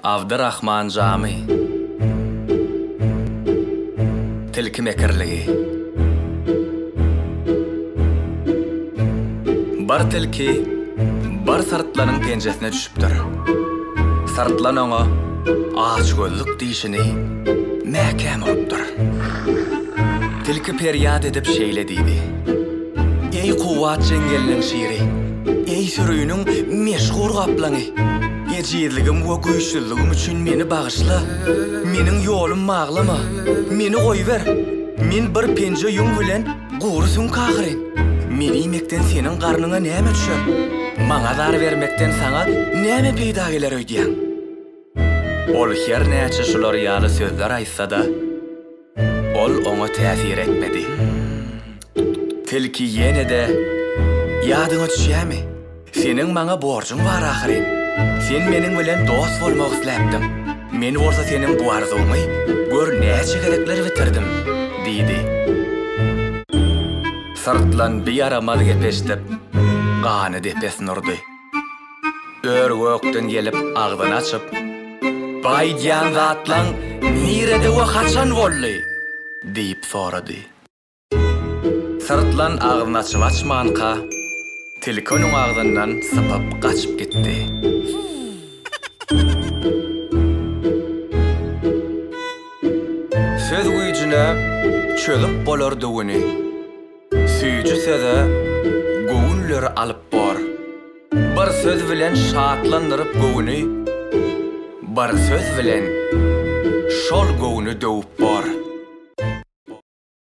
Abdyrahman jamy. Tilki mekirligi. Bir tilki bir syrtlanyň penjesine düşüpdir. Syrtlan oňa açgözlük dişini mäkäm urupdyr. Tilki perýat edip şeýle diýdi. Eý kuwwat jeňňeliniň şiri, eý süriniň meşhur gaplaňy, ejizligim we güýçsüzligim üçin meni bagyşla, meniň ýolum maglama, meni goýber, men bir penje ýüň bilen gury süňk ahyryn. Meni iýmekden seniň garnyňa näme düşer? Maňa zar bermekden saňa näme peýda geler öýdýäň? Ol her näçe şular ýaly sözler aýtsa-da. Ol oňa täsir etmedi. Tilki ýene-de, Ýadyňa düşýärmi? Seniň maňa borjuň bar ahyryn. Sen meniň bilen dost bolmak isläpdiň. Men bolsa seniň bu arzuwyňy gör näçe gezekler bitirdim, diýdi. Syrtlan bir ýaramaz gep eşidip, gany depesine urdy. Ör-gökden gelip agzyny açyp, Bu aýdýan zatlaň nirede we haçan boldy? diýip sorady. Syrtlan agzyny açyp-açmanka, tilki onuň agzyndan sypyp gaçyp gitdi. Söz güýjüne çözüp bolardy güni. Süýji söze göwünleri alyp bor. Bir söz bilen şatlandyryp göwüni, Bir söz bilen şol göwni döwüp bor.